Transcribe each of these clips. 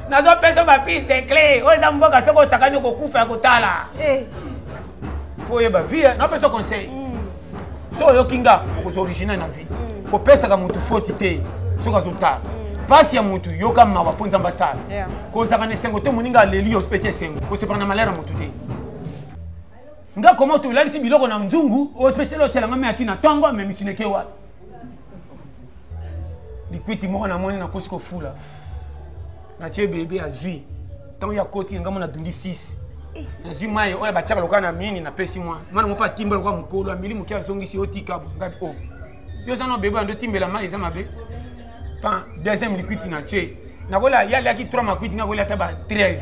nazopesa ba piste cle oyo eza mboka soki osakani okokufa ya kotala eh. fo oyeba vie napesa conseil hmm. so oyoki nga okozwa original na vie hmm. kopesaka motu foti te soki azotala hmm. mpasi ya motu yoka mawa mpo nzambe asala kozaka na esengo te moninga aleli yo mpe te esengo kosepana na malere ya motu te nga koma otobelalisi biloko na nzungu otyelanga me ati na ntongo amemisineke wapi likwiti moko namoni nakosi kofula natie bebe azwi ntango ya koti ngambo nadungi 6 nazwi mai oyo batiaka lokola na mini napesi mwa mwana moko atimba lokola mokolo ameli moke azongisi otika bongadi o oh. yo oza no bebe ando timbela mai eza mabe pa deuxième likwiti natie nakola ye aliaki 3 makwiti nakolia ata ba 13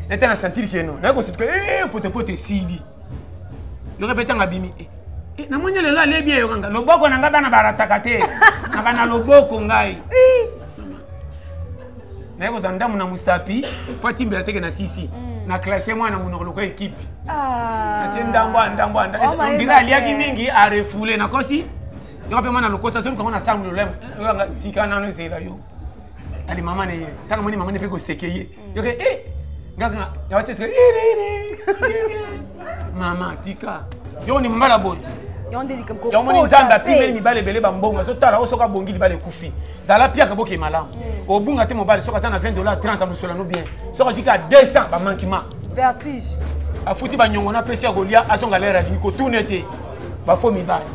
nete na sentir keno naye kosutuka eh, potepote esili yoka mpe ntango abimi eh, eh, namoni lelo alie bien yoka nga loboko na ngai bana barataka te naka na loboko ngai naye kozwa ndambo na mosapi mpo atimbela teke na sisi mm. na classe mwana monoko lokola ekipe ah. atie ndambo ya ndambo ya ndambo oh ondire aliaki mingi arefoule nakosi yoka mpe mwana lokosa soki lukango na sango lolemo eh, oyo tika nano ezela yo ali mama na ye ntango moni mama ne mpe koseke ye yoke e eh, ngaka yawatese iriri mama tika yoko ni mbala boye yamoni nzambe apimeli mibale ebele bambongo azotala oyo soki abongi libala ekufi zala piaka boke malamu mm. obunga te mobali soki aza na 20 dollar 30 amosolano bien soki azwiki ya 200 bamankima vertige afuti banyongo na pesi ya kolia azonga lere alini kotuna ete bafo mibale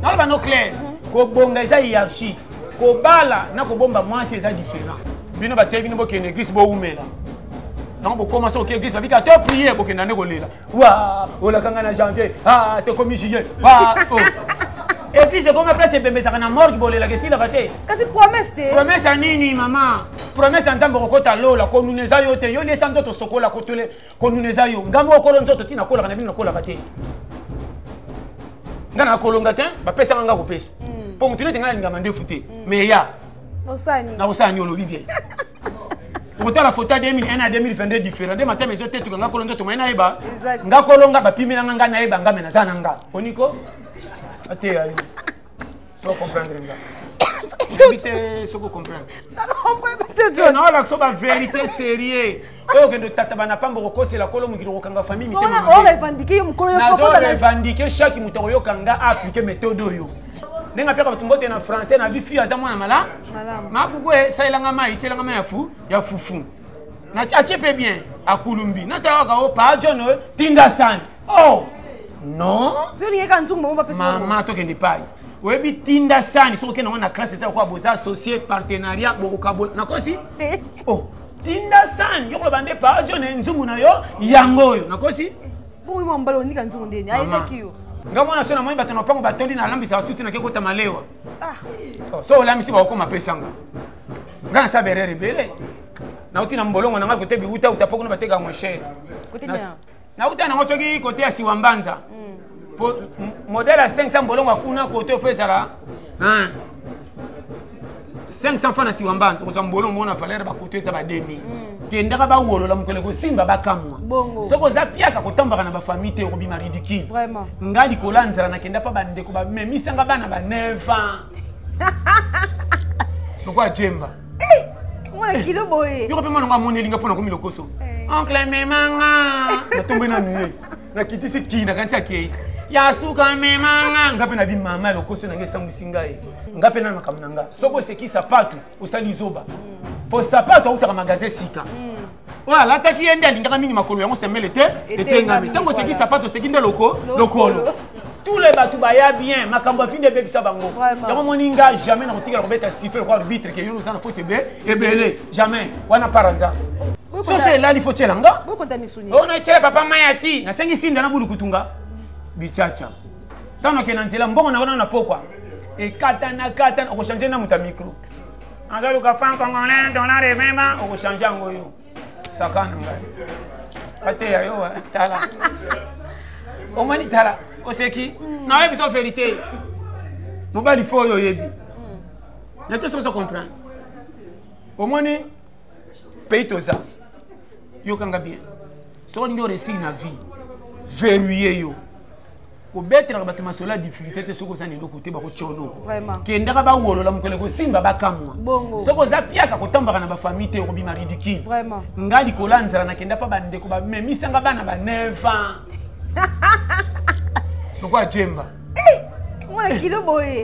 naloba no claire mm-hmm. kobonga eza hierarchie kobala na kobomba mwasi eza différent bino bateyi bino bokende eglise bowumela yango bokoma soki eglise babika to priye bokenda nde kolela wa olakanga na janvier a tokomi juillet wa eglise ekoma place ebembesaka na morgue bolelaka esilaka te kasi promese te promese ya nini mama promese ya nzambe okokota lola konuna eza yo te yo nde esa nzoto sokola kotole konuna eza yo nga moko kolo nzoto ntina kolaka na bino nakolaka te nga na kolonga te bapesaka nga kopesa hmm. mpo motu nete nga nalingama ndefu te hmm. mais ya na osani olobi bien okotala foto ya 2001 na 2022 différent nde matama ezotetuka nga kolo nzoto mai nayeba nga kolonga bapimela nga nga nayeba nga me naza na nga oniko ateya yo so comprendre nga yebi te soki ocomprendrenaolakisa ba vérité sérieux oyo okende otataba na pamba okokosela kolo mokili okokanga famille mitemarevendike chaque moto akoyoka nga aplike méthode oyo ndenge apeka bato mbote na français na bifi aza mwana mala makuku esalelanga mai tielanga mai ya fufu atie mpe bien akulumbi natalaka o pa john tinda sani oh non zolingeka nzungu mama bapesa mama tokende epai oyebi tinda sani soki okenda ngo na classe eza lokola boza associe partenariat bokokabola nakosi oh tinda sani yo koloba nde paa jo na nzungu na yo yango oyo nakosi bongo mwa mbala onika nzungu ndeni ayebaki yo nga mwana so namoni bato na mpango batondi nalambisa basuti nake kota malewa ah. oh, so olambisi bakokoma pesanga nga nasala berere ebele nauti na mbolongo na ngai kote biwutawuta mpo kuna bateka moshere nauta nango soki kote ya siwa mbanza po modele ya 500 mbolongo akuna kote ofo ezala 500 fa na siwa mbanza okozwa mbolongo mona valere bakoto eza ba 2000 kendaka bawolola mokolo ekosimba bakamwa soki oza piaka kotambaka na bafamille te okobima ridicule nga likolo ya nzala nakenda mpa bandeko bamemisanga bana ba 9 ans lokola jemba mwana kilo boye yoko mpe mwana ngo amoni elinga mpo nakomi lokoso eh. oncle memanga natombwe nanu ye nakitisi kii nakanisi akei ya suka memanga nga mpe nabi mama ya lokoso nange esambwisi ngai nga mpe na makambo na nga soki oseki sapatu osali zoba mpo sapatu autaka magasin sika mm. oyo alataki ye nde alingaka mingi makolo yango sembele te etengami ntango oseki sapato oseki nde loko lokolo tous les bato baya bien makambo afindi ebebisa bango yango omoni nga jamais nakotikala kobeta sife lokola arbitre ke yo oza na foti ebele jamais wana para nzambe soso elali fo tyela nga ona etyela papa maya ti nasengi sinda na bulukutunga bichacha ntango nakenda nzela mbongo na wana na pokwa ekatana katana okochange na moto ya mikro azoluka fan congolais dollar evema okochange yango yo saka na ngai ateya yo eh, tala omoni tala oseki mm. nayebi so verité mobali fo oyo oyebi na te soki ozo comprendre omoni pays toza yokanga bien soki olingi oresili na vie verrouille yo kobetelaka bato masolo ya difficulté te soki oza na eloko te bakotyono kendaka bawolola mokolo ekosimba bakamwa soki oza piaka kotambaka na bafamille te okobima ridicule nga likolo ya nzala nakenda mpa bandeko bamemisanga bana ba 9 ans lokola jemba eh,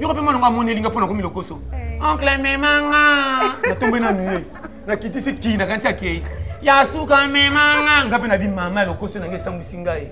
yoko mpe mwana ngo amoni elinga mpo nakomi lokoso eh. oncle memanga natombe na mie nakitisi kii nakanisi akei ya suka memanga nga mpe nabi mama ya lokoso nange esambwisi ngai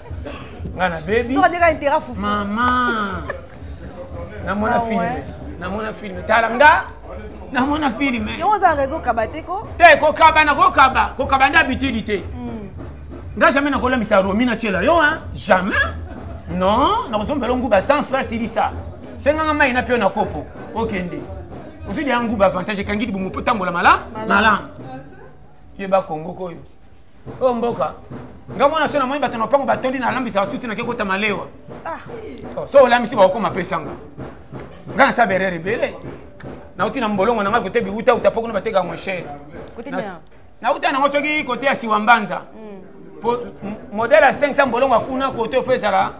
nga nabebi mama namona ah filme namona filme tala nga namona filme yango oza raison kaba te ko te kokaba na kokaba kokaba nde habitude te hmm. nga jamais nakolambisa romi na tiela yo hein jamais non nakozombela nguba sans frère silisa senganga mai na pio na kopo okende ozwi deya nguba avantage ekangi libumu mpo tambola malamu malamu yeba kongo koyo oyo mboka nga mwana so namoni bato na lopango batondi nalambisa basuti nake kota malewa ah. oh, so olambisi bakokoma pesanga nga nasala berere ebele nauti na mbolongo na ngai kote biutauta mpo kuna bateka yango chere nauta nango soki kote ya siwa mbanza mpo mm. modele ya 500 mbolongo akuna kote ofo ezala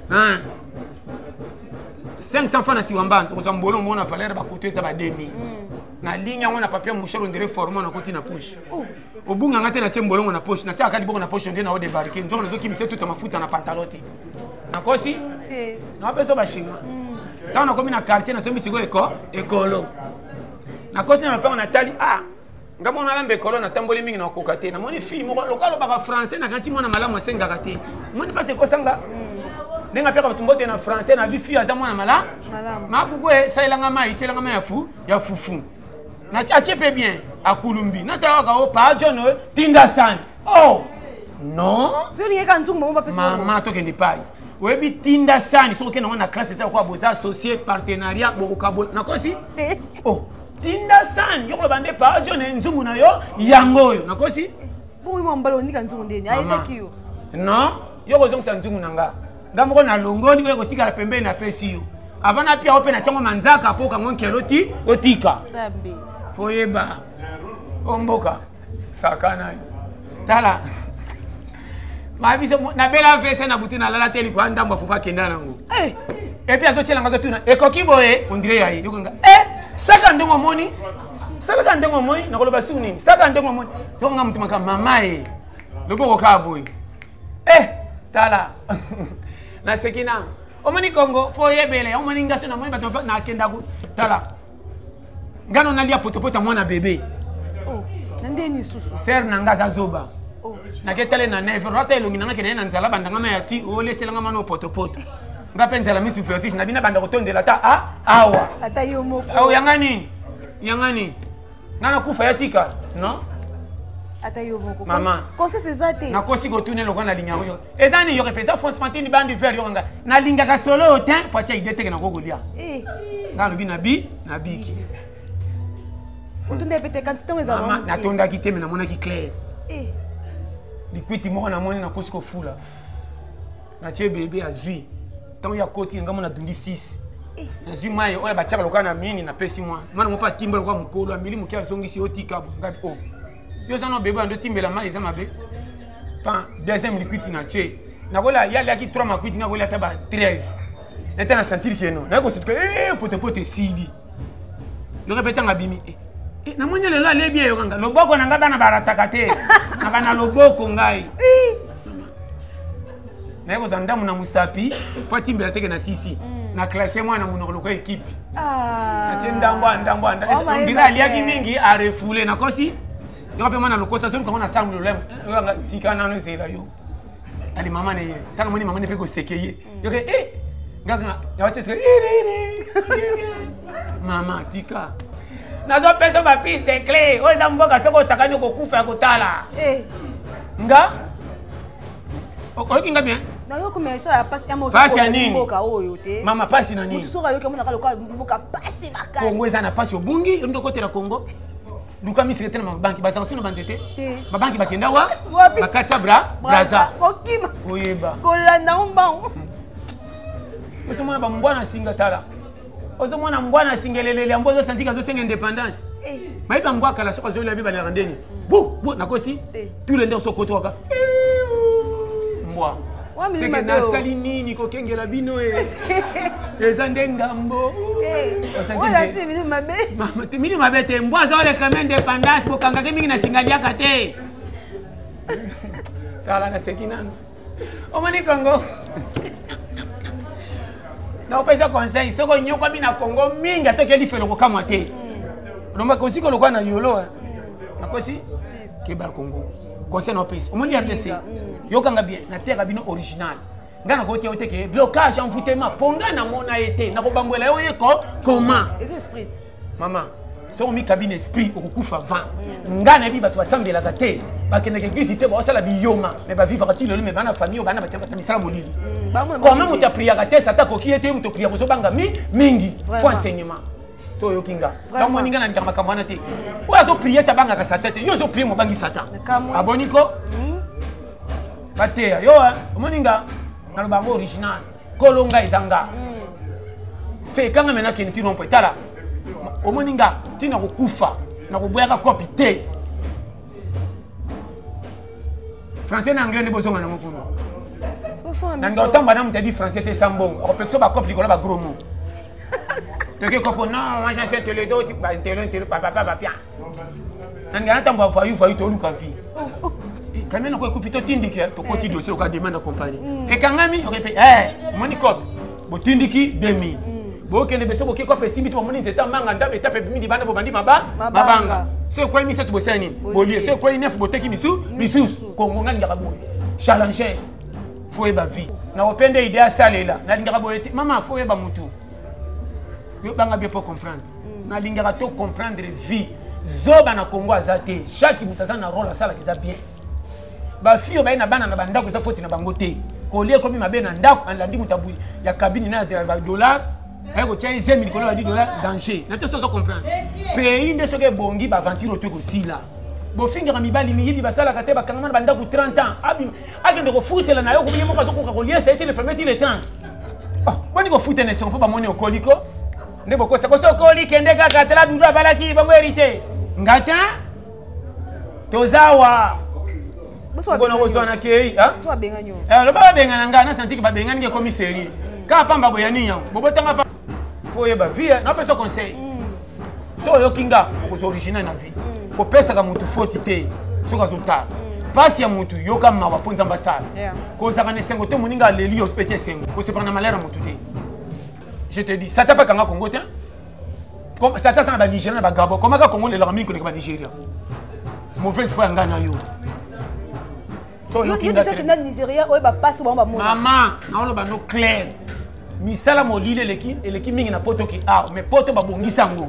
500 fa na siwa mbanza kozwa mbolongo mona valere bakoto eza ba 2000 mm. na ligne yango na papier mouchel ondire forme nakoti na pushe oh. obunga nga te na tie mbolongo na poche na tia kadi boko na poche nde na o débarquer nzongo na zoki misetu ta mafuta na pantalon te na kosi eh. na pesa ba chinois hmm. tant na komi na quartier na somi siko eko ekolo na koti na mapanga na tali ah nga mwana alambe ekolo natamboli mingi nakoka te namoni fille moko loka alobaka français nakati mwana malamu asengaka te omoni mpasi ekosanga hmm. ndenge apeka bato mbote na français na bi fille aza mwana malamu makuku esalelanga mai etyelanga mai ya fufu atie mpe bien akulumbi natalaka o paa john oyo tinda sani o non mama tokende epai oyebi tinda sani soki okende yango na classe eza lokola boza associe partenariat bokokabola nakosi o oh, tinda sani yo koloba nde paa john nzungu na yo yango oyo nakosi non yo kozongisa nzungu na nga nga moko nalongoli oyo ekotikala pembeni napesi yo avant napia yo mpe na tiango manzaka mpo okango nkelo ti otika foyeba omboka sakana yo tala mabiso nabela vese na butu nalala te likwa ndambo afufu akenda nango eh! epuis azotyelanga azotuna ekoki boye ondire ya ye yokonga e eh! saka ndenge omoni salaka ndenge omoni nakoloba su nini saka ndenge omoni yokonga motu maka mama ye loboko kaa boye eh tala naseki na omoni kongo fo oyebele omoni nga so namoni bato nakenda ku tala nga no nalia potopoto mwana bebe oh, na ndeni susu sere na nga aza zoba oh. naketale na neve rata elongi na nga kende ye na nzala bandanga ma ya ti olesela nga mwana opotopoto nga mpe nzala misu vertige na bina banda kotondela ata a awa ata yo moko yanga nini yanga nini nga nakufa ya tika non ata yo moko mama conscience eza te nakosi kotuna eloko nalinga yango yo eza ni yoke mpenza francement te nibandi vere yoka nga nalingaka solo oyo te po atya ide teke nako kolia eh. nga alobi nabi nabiki otunda pete kanti ntango ezaa natondaki te me namonaki claire eh. likwiti moko namoni nakosi kofula natie bebe azwi ntango ya koti nga mona dundi 6 nazwi mai oyo batiaka lokola na mini napesi mwa mwana moko atimba lokola mokolo ameli moke azongisi yo tika bongabi o oh. yo oza na obebe ando timbela mai eza mabe pan deuxième liquiti na tie nakola ye aliaki 3 makuiti nga kolia ata ba 13 nete na sentir keno naye kosutuka e eh, potepote esili yoka mpe ntango abimi eh, eh, namoni lelo alie bien yokanga loboko na ngai bana barataka te naka na loboko ngai naye kozwa ndambo na mosapi mpo atimbela teke na sisi mm. na classe mwana na monoko lokola ekipe ah. atie ndambo ndambo ndira aliaki mingi arefoule nakosi yoko mpe mwana lokosa soki lukango na sango lolemo oyanga tika nano ezela yo ali mama na ye ntango moni mama ne mpe koseke ye mm. yoke e eh, ngaka nawateseka mama tika nazopesa bapise de cle oyo eza mboka soki osakani okokufa ya kotala eh. nga oyoki nga bien nayoki mais esala pasi pasi ya nini mboka oyo te mama pasi na nini soki ayoki amonaka lokola mboka pasi makasi kongo eza na pasi obungi ondi okotela kongo luka misika te na mabanki bazanga sino banzete mabanki bakenda wa bakati ya bra braza kokima koyeba kolanda ombango hmm. osomona bambwa na singa tala ozo mwana mbwa na singelelele yango ozo santika azo senga indépendance eh. mayi ba mbwa kala soko azoli abi ba na ndeni bu bu na kosi eh. tous les ndenge so koto waka mbwa seke nasali nini kokengela bino e eza nde ngambo mini mabe te mbwa aza oreklame indépendance bokangaki mingi na singaliaka te tala naseki nano omoni kongo nakopesa conseil soki onyokwami na kongo mingi ata okeli felo kokamwa te olomba kosi kolokola na yolo nakosi keba kongo conseil naopesa omoni ya blesse yokanga bien nateka bino original ngai nakoki te oteke blocage envoutema mpo ngai namona ye te nakobambwela yo ye ko koma mama soki omikabi na esprit okokufa vent ngai nayebi bato basambelaka te bakendaka eglise te baosala biyoma me bavivaka ti lelo me bana famille oyo bana batabata misala molili mm, koma moto apriaka te sata akoki ye te moto apria kozobanga mingi fo enseignement so oyoki nga ntango moni nga na ndaka makambo wana te oyo azoprie tabangaka satan te yo ozoprie mobangi satan aboni ko hmm? bateya yo omoni nga naloba yango original kolo nga eza nga seka nga me nakende ti nompo etala omoni nga ti nakokufa nakoboyaka kopi te français na anglais nde bozonga nango kuna nanga otamba na moto adi français te sambongo akopekisa bakope likolo bagros mo toke kopo non moi j'enseigne tele do intelo intelo papa papa pia nani ata mwa vayu vayu toluka vie kamia noko ekufi totindiki tokoti dossier oka demande ya compagnie mm. ekangami okepe eh, omoni cope botindiki 2000 mm. bokende beso boke cope esimbi to bamoni nzete amanga ndambe etape midi bana bobandi mabanga so ekwei misato bosala nini bolie so ekwei nef boteki misu misusu kongo nga lingaka boye challenger fo oyeba vie nakopende ide asalela nalingaka boye te mama fo oyeba motu yo banga bie po comprendre nalingaka to comprendre vie zoba na congo aza te chaque moto aza na role asalaka eza bien bafio baye na bana na bandako eza foti na bango te kolia ekomi mabe na ndako alandi moto ya kabine na badollar aye kotya ye zemi likolo badi dollar danger na te sozo comprendre pays nde soki ebongi baaventure oto ekosila bofingaka mibali miyibi basalaka te bakangama na bandako 30 ans akende kofutela na yo koye moko azokoka koliesa ye te le premier ti le 30 boni kofutela esengo mpo bamoni okoliko nde bokosa koso okoli kende kaka tala dudu abalaki bango héritier ngata toza wa kona kozwana kei eh, loba babengana ngai nasantiki babengani nge ekomi serie kaka pamba boya nini yango bobotanga pa fo oyeba vie eh, napesa conseil mm. so oyoki nga okoza original na vie mm. kopesaka motu foti te soki azotala mpasi ya motu yoka mawa mpo nzambe asala kozalaka na esengo te moninga aleli yo osopete esengo kosepaka na malere ya motu te je te dis satan mpe akanga congo te satan aza na banigérien na bagabo komaka congo lelaka mingi koleka banigérien mauvaise foi ya ngai na yo mama naoloba no claire misala molili eleki, eleki mingi na poto ki awa mais poto babongisa yango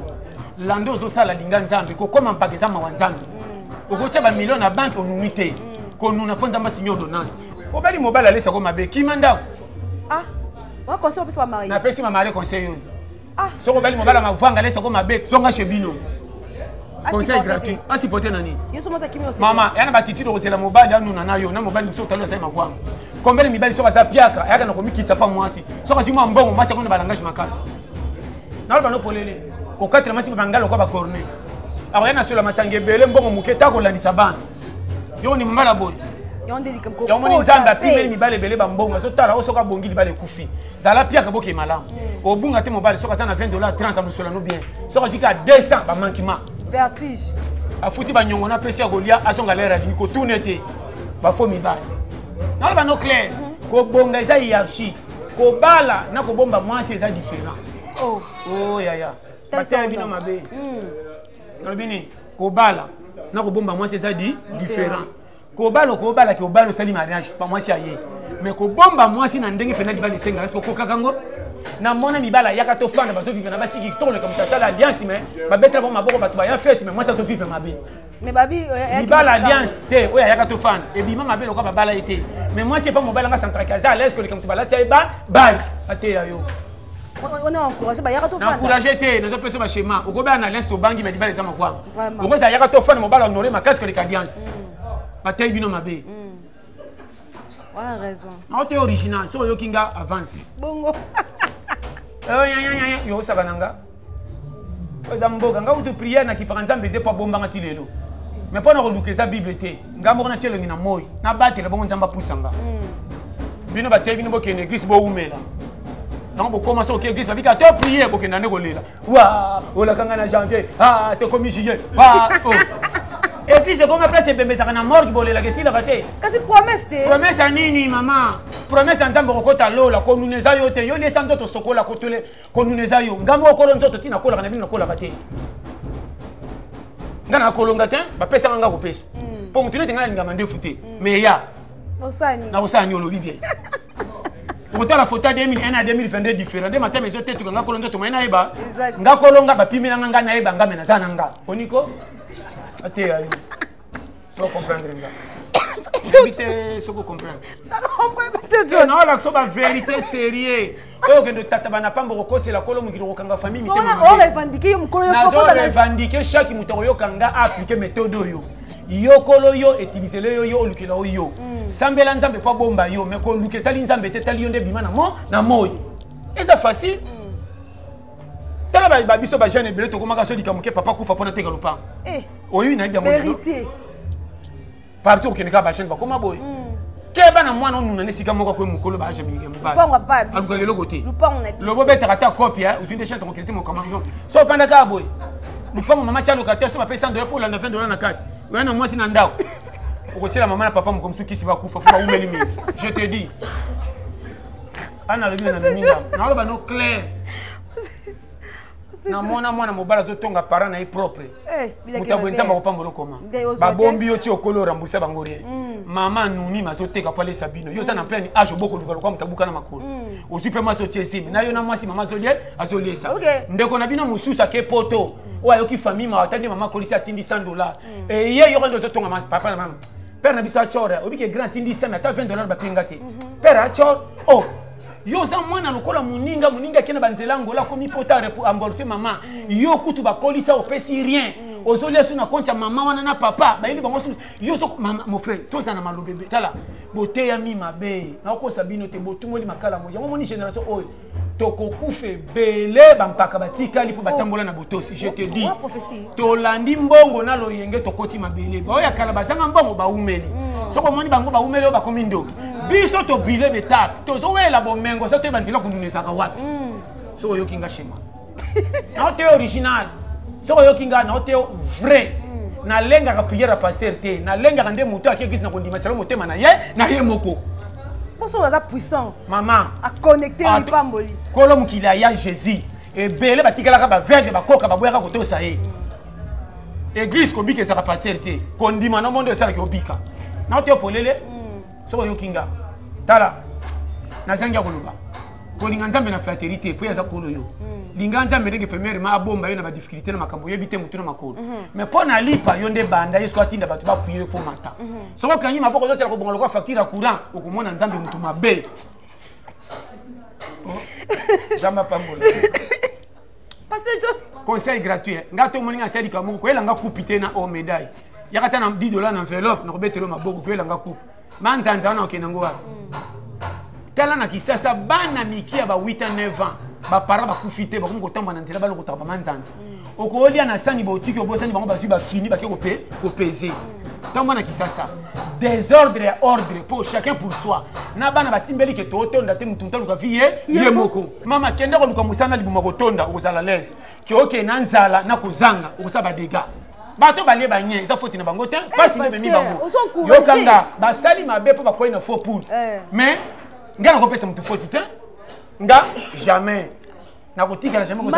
lando ozosala linga nzambe kokoma mpaka eza mawa nzambe mm. okotya bamilio na banke onuni te mm. konuna fo nzambe asinye ordonnance obali mobali alesako mabe kima ndako ah wa conseil opesa ba marie napesi ma marie conseil oyo ah soko bali mobala mavanga lesa ko mabe songa chez bino ah, conseil gratuit asipote na nini mama yana bakitidi okozela mobali anuna na yo na mobali mosusu otali osali mavanga kombele mibali soki aza piaka ayaka na komikitisa mpa mwasi soki azwi mwa mbongo mwasi akona balangage makasi naloba no polele kokatela mwasi mpe bangala lokola bacorne akoya na solo ya masanga ebele mbongo moke ta kolandisa bana yo ni mama na boye yamoni nzambe apimeli mibale ebele bambongo azotala oyo soki abongi libala ekufi zala piaka boke malamu mm. obunga te mobali soki aza na 20 dollar 30 amosolo no bien soki azwiki a 200 bamankima afuti banyongo na pesi ya kolia azonga lere adini kotuna ete bafo mibale naloba no claire mm-hmm. kobonga eza hierarchie kobala na kobomba mwasi eza différent oh. oh, yaya mateya bino mabe mm. olobi nini kobala na kobomba mwasi eza di différent kobala okobala ke obala osali mariage pa mwasi aye mais kobomba mwasi na ndenge mpenza libala esengaka soki okokaka yango na mona mibala ayaka tofanda bazoviva na basi kitoko leka moto asala alliance mais babetela bango maboko bato baya fete mais mwasi azoviva mabe libala alliance te oyo ayaka tofanda ebima mabe lokola babala ye te mais mwasi epa mobali anga santraki aza alaise koleka moto balati ya eba bage ateya yo naencourage te nazopesa bashema okobela na lens tobangi me libala eza makwanga okozala yaka to fane mobala honore makasi koleka ambiance mm. batei bino mabe naote mm. original soki oyoki nga avance yosaka na nga eza mboka nga kutu priere na kipaka nzambe te mpo abombanga ti lelo mais mpo na koluka eza bible te nga moko natya elongi na moi nabatela bongo nzambe apusa nga hmm. bino bateyi bino bokende eglise bowumela yango bokoma soki eglise babika to priye bokenda nde kolela wa olaka nga na janvier a tokomi juillet wa eglise ekoma place ebembesaka na morgue bolelaka esilaka te kasi promese te promese ya nini mama promese ya nzambe okokota lola konuna eza yo te yo liesa nzoto sokola kotole konuna eza yo nga moko kolo nzoto ntina kolaka na bino nakolaka te nga na kolonga te bapesaka nga kopesa hmm. mpo motu nete nga nalingama ndefu te hmm. mais ya na osani olobi bien okotala foto ya 2001 na 2022 différent nde matama ezotetuka nga kolo nzoto mai nayeba nga kolonga bapimela nga nga nayeba nga me naza na nga oniko ateya yo so comprendre nga yebi te soki ocomprendrenaolakisa ba vérité sérieux oyo okende otataba na pamba okokosela kolo mokili okokanga famille mitemarevendike chaque moto akoyoka nga aplike méthode oyo yokolo yo etilisele yo yo olukela oyo yo mm. sambela nzambe mpo abomba yo me koluka etali nzambe te etali yo nde bima na moi eza facile mm. tala ba biso ba jeune ebele tokomaka so likambo ke papa kufa pona teka lopango eh. oyo nayebi yango héritier partout okende kaka ba jeune bakoma boye hmm. keba na mwana onuna na esika moko akoyi mokolo baage mobalukaka eloko te lobo obetaka ata kopi eh. ozwi nde chance kokende te mokamarion so ofanda kaka boye lupango mama tya lokateur so bapesi 100 dola mpo olanda 20 dola na kati oya na mwasi na ndako okotyela mama na papa mokomsukisi bakufa mpo baumeli mingi je te dis ana alobi na ndomi nga naoloba no claire namona mwana mobali azotonga parent na ye propre eh, moto ya boye nzambe akopambola okoma babombi yo ti okoli orambusa bango rien mm. mama anonyme azoteka po alesa bino yo oza na pleine age obokoluka lokwa moto abuka na makolo mm. ozwi mpe mwasi otie esimi na yo na mwasi mama azolie azoliesa ndeko na bino mosusu ake poto mm. oyo ayoki famille mawa ata nde mama akolisi atindi 100 dollar eye yoko nde ozotonga papa na mama père na biso achora oyebi ke grand atindi sami ata 20 dollar bapinga te mhm. père achor o oh, yo oza mwana lokola moninga moninga akenda banzela ngola akomi pota ambolfe mama mm. yo kutu bakolisa opesi rien mm. ozolia so na konti ya mama wana na papa bayeli bango susu yo so mofre toza na malobebe tala boteyami mabe nakokosa bino te botumoli makala moja yango moni génération oyo tokokufa ebele bampaka batikali mpo oh. batambola na botosi je te dis tolandi mbongo na loyenge tokoti mabele baoyo ya kala bazanga mbongo baumeli mm. soki omoni bango baumeli oyo bakomi ndoki mm. biso tobrile betape tozowela bomengo sa toyeba nzela kondunesaka wapi mm. soki oyoki nga shema nao te original soki oyoki ngai nao te vrai nalengaka priere ya paster te nalengaka nde moto ake eglise na kondima selo motema na ye na ye moko mposo aza puissant mama aconnecte lipamboli kolo mokili aya jésus ebele batikalaka baveugle bakoka baboyaka kotosa ye eglise kobika ezaka paster te kondima na mondo esalaki obika nao te polele mm. soki oyoki nga tala nazangi ya koloba kolinga nzambe na flatterie te mpo ye aza kolo yo hmm. linga nzambe ndenge premièrement abomba yo na badifficulté na makambo oyebi te motu na makolo hmm. mais mpo na lipa yo nde banda ye soki atinda bato bapuye yo mpo mata hmm. soki okangi maboko ozosala kobonga lokola facture ya courant okomona nzambe motu mabe nzambe apambola conseil gratuit eh. nga to moninga asali kamuku koyela nga kupi te na o medaille yaka ta na 10 dollars na enveloppe na kobetelo maboko koyela nga kupi manzanza wana okende ngo wapi tala na kisasa bana mike ya ba 8 a 9 ans bapara bakufi te bakomi kotambola na nzela balokotaka bamanzanza okolia na sani baotiki obosani bango bazwi bafini bake kopeze ntango na kisasa desordre ya ordre mpo chacun pour soi na bana batimbeli ke tootonda te motu moto aluka vi ye ye moko mama kende koluka mosala na libuma kotonda okozala lese kioke na nzala na kozanga okosala badega bato balie banye eza foti na bango te mpasi eh, nde ememi bango yokanga basali mabe mpo bakwei na faux poule eh. mais ngai nakopesa motu foti te nga jamais nakotikala jamais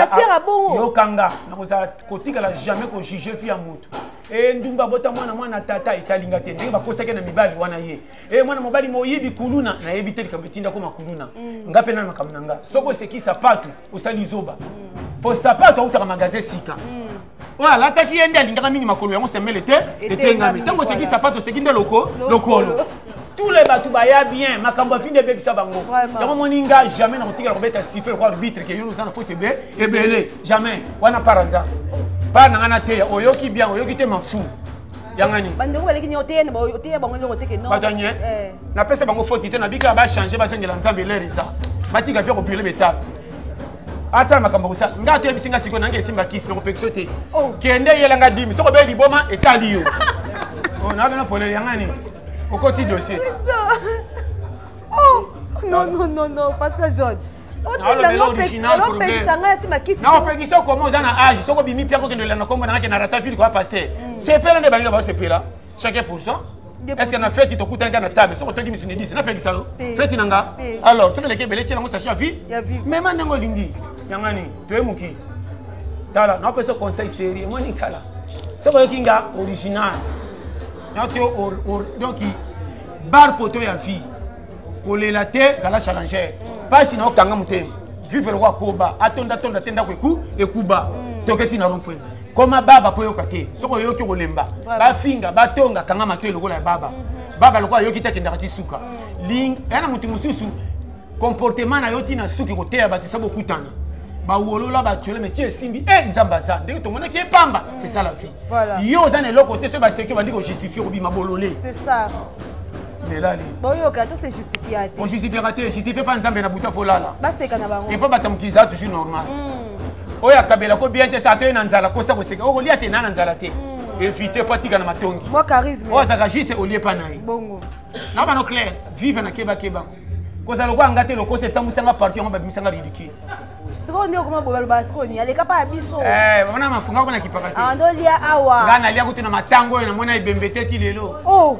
yokanga nakozala kotikala jamais kojuge fi ya motu e ndumba bota mwana mwana tata etalinga te ndenge bakosaki na mibali wana ye e mwana mobali moyibi kuluna nayebi te likambo etinda koma kuluna mm. nga mpe nani makambo na nga soki oseki sapatu osali zoba mpo mm. sapatu autaka magasin sika mm. oyo alataki ye nde alingaka mingi makolo yango semele te etengami ntango oseki sapatu oseki nde loko lokolo tous les bato baya bien makambo afindi ebebisa bango yango moni nga jamais nakotikala kobeta sife lokola arbitre ke yo oza na foti ebe ebele jamais wana para nzambe para na ngai nateya oyoki bien oyoki te mafu yangani bandeko baleki nio oteya bango oteya bango eloko teke no bato anye eh. napesa bango foti te nabika bachange bazongela nzambe lere eza batika via kopile betape asala makambo kosala nga ato yebisi nga sikoyo nange esimba kisi nakopekisa te oh. kende yela nga dimi soko obeli liboma etali yo oh, nabena polele yangani okoti dossier oh, non non non non pasteur john naopekisa okoma oza na age soki obimi mpe akokende olanda nkombo nangake na rata ville koya paster mm. sepela nde balinga basepela chacun pour ça estce na feti tokutanaka na table soki otoki misuni 10 napekisa yo feti na nga alors soki eleki ebele tyelango sache ya vie mema ndenge olingi yangani toye moki tala naopesa conseil serie emoni tala soki oyoki nga original donc bar poto ya vie kolela te zala challenger mpasi na yo kanga motema vivre lokola koba atondatonda te ndako eku ekuba mm. toke ti na rompwe koma baba mpo oyoka te soki oyoki okolemba bafinga batonga kanga matoi lokola ya baba mm-hmm. baba lokola ayoki te akendaka ti suka mm. ya na moto mosusu comportement na yo ti na suki koteya bato esa bokutana bawolola batiole me ti esimbi e nzambe aza ndenge tomonaki epamba mm. c'est ça la vie yo oza na eloko te soki baseki obandi kojustifie kobima bolole lela nini boyoka to se justifia te ojustifiaka te justifie mpa nzambe na buta folala baseka na bango epa bato ya mokili eza toujours normal hmm. oyo akabela ko bien te sa atoye na nzala kosa koseka okolia te na na nzala te hmm. évite mpo atika na matongi oyo azalaka juste olie mpa na ye na bano claire vive na kebakeba kozala lokola nga te lokosa etambwisanga parti yango babimisanga ridicule sikoyo nde okoma bobaloba sikoyo nini aleka mpa ya biso eh, bamona mafunga kona kipaka te ah, ndolia awa nga nalia kutu na matango oyo namona ebembe te ti lelo oh.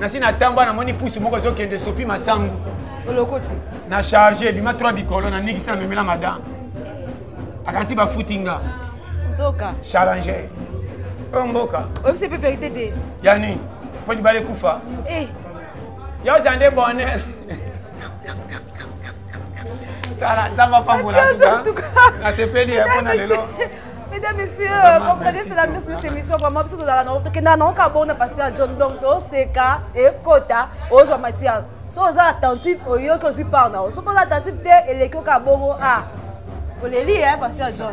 nasi natamba namoni pusu moko ezokende esopi masangu olokoti na charge ebima 3 bikolo na nikisi na memela madame akanti bafuti nga nzoka challenge oyo mboka oyebisi mpe verité te ya nini mpo libala ekufa eh. yo oza nde bonheur tala nzambe apambola nasepeli mpona lelo Mesdames, Messieurs, comprenez, c'est la mise de cette émission. Vraiment, biso tozala na tokenda na oka bona passer à John donc to seka et kota ozwa matière. So oza attentif oyoki ozwi part na yo. So oza attentif te eleki oka bongo ah. Oleli hein passer à John.